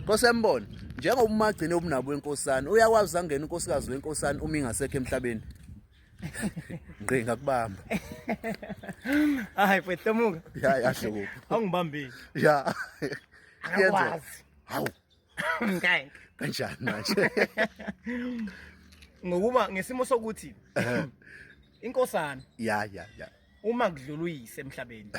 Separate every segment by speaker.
Speaker 1: Nkosi yambona njengoba umagcine ubunabo wenkosana uyakwazi angena unkosikazi wenkosana uma ingasekho emhlabeni ngqi ngakubamba
Speaker 2: hayi mfethu tomuka ya yasho kuphi
Speaker 1: awungibambile
Speaker 2: ya
Speaker 1: yenza
Speaker 2: hawu
Speaker 1: ngeke
Speaker 2: kanjani
Speaker 1: manje
Speaker 2: ngokuba ngesimo sokuthi inkosana ya ya
Speaker 1: ya uma
Speaker 2: kudlula uyise emhlabeni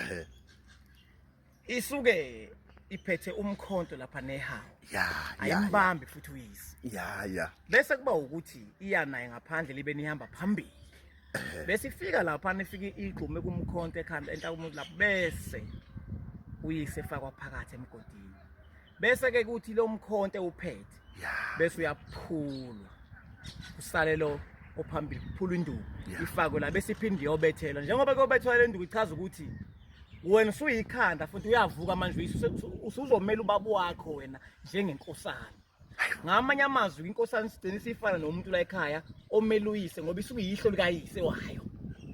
Speaker 2: isuke iphethe umkhonto lapha nehawu ya ya ya
Speaker 1: ayimbambi futhi
Speaker 2: uyise ya ya bese
Speaker 1: kuba ukuthi
Speaker 2: iya naye ngaphandle libe nihamba phambili bese ifika lapha nifike igqume kumkhonto ekhanda entaka umuntu lapho bese uyise efakwa phakathi emgodini bese ke kuthi lo mkhonto uphethe bese uyaphulwa usale lo ophambili kuphula induku ifakwe la bese iphinde iyobethelwa njengoba kuyobethelwa le nduku ichaza ukuthi wena usuyikhanda futhi uyavuka manje usuzomela ubaba wakho wena njengenkosana ngamanye amazwi inkosana isideni isifana nomuntu la ekhaya omeluyise ngoba isuke yihlo likayise wayo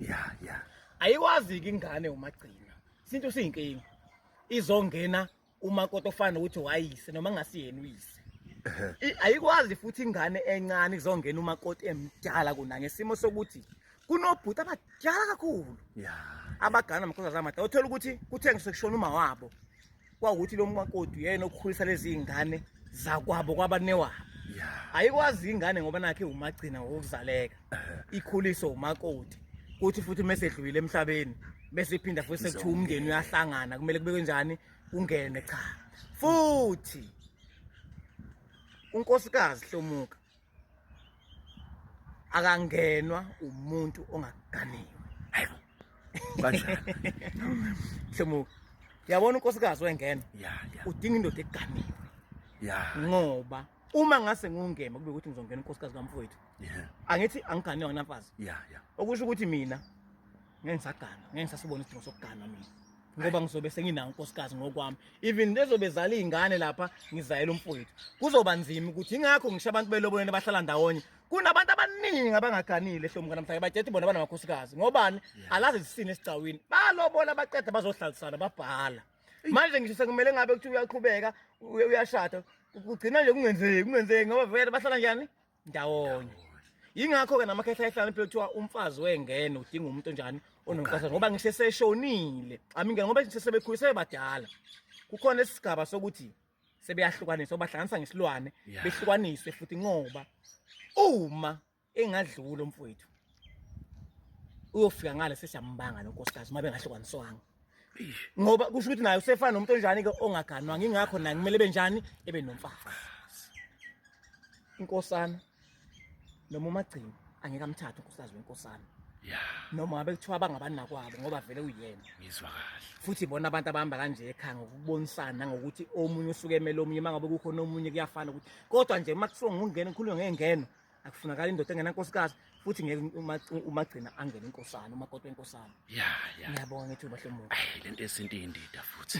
Speaker 2: ya
Speaker 1: ya ayikwazi-ke
Speaker 2: ingane umagcina isintu siyinkinga izongena umakoti ofana ukuthi wayise noma ngasiyena uyise I- ayikwazi futhi ingane encane kuzongena umakoti emdala kuna ngesimo sokuthi kunobhuti abadala kakhulu ya abagana amakhoza zamada uthola ukuthi kuthe ngisekushona uma wabo kwawukuthi lo makoti uyena okukhulisa lezi ngane zakwabo kwabanewabo ya ayikwazi ingane ngoba nakhe umagcina wokuzaleka ikhuliswe umakoti kuthi futhi uma esedlulile emhlabeni bese iphinda futhi sekuthiwa umndeni uyahlangana kumele kubekwe njani kungene cha futhi unkosikazi hlomuka akangenwa umuntu ongaganiwe hayo
Speaker 1: kanjani
Speaker 2: hlomuka yabona unkosikazi wengena udinga
Speaker 1: indoda
Speaker 2: eganiwe ya
Speaker 1: ngoba
Speaker 2: uma ngase ngungema kube ukuthi ngizongena unkosikazi kamfowethu yeah angithi angigane yona mfazi yeah yeah okusho ukuthi
Speaker 1: mina
Speaker 2: ngeke ngisagana ngeke ngisasibona isidingo sokugana mina ngoba ngizobe senginawo unkosikazi ngokwami even lezobe zala izingane lapha ngizayela umfowethu kuzoba nzima ukuthi ingakho ngisho abantu beloboleni bahlala ndawonye kunabantu abaningi abangaganile hlomuka namhlanje bajethi bona banamakhosikazi ngobani alazi zisini esigcawini balobola baqeda bazohlalisana babhala manje ngisho sekumele ngabe kuthi uyaqhubeka uyashada kugcina nje kungenzeki kungenzeki ngoba vele bahlala njani ndawonye yingakho-ke namakhehla ehlala impilo kuthiwa umfazi wengene udinga umuntu onjani onomqasha ngoba ngisho eseshonile amingene ngoba ngisho sebekhulise sebebadala kukhona isigaba sokuthi sebeyahlukaniswa bahlanganisa ngesilwane behlukaniswe futhi ngoba uma engadlula umfowethu uyofika ngale sesiyambanga nonkosikazi uma bengahlukaniswanga ngoba kusho ukuthi naye usefana nomuntu onjani-ke ongaganwanga ingakho naye kumele ebe njani ebe nomfazi inkosana noma umagcini angeke amthathe unkosikazi wenkosana noma ngabe kuthiwa abangabanakwabo ngoba vele uyena ngizwa kahle
Speaker 1: futhi bona abantu abahamba
Speaker 2: kanje ekhaya ngokubonisana nangokuthi omunye usuke emele omunye uma ngabe kukhona omunye kuyafana ukuthi kodwa nje uma kuthiwa ngingena ngikhulume ngengeno akufunakala indoda engenankosikazi futhi ngeke umagcina angene inkosana umakoti wenkosana
Speaker 1: ya
Speaker 2: ya
Speaker 1: ngiyabonga ngithi ubahle muntu le nto esinto
Speaker 2: iyindida
Speaker 1: futhi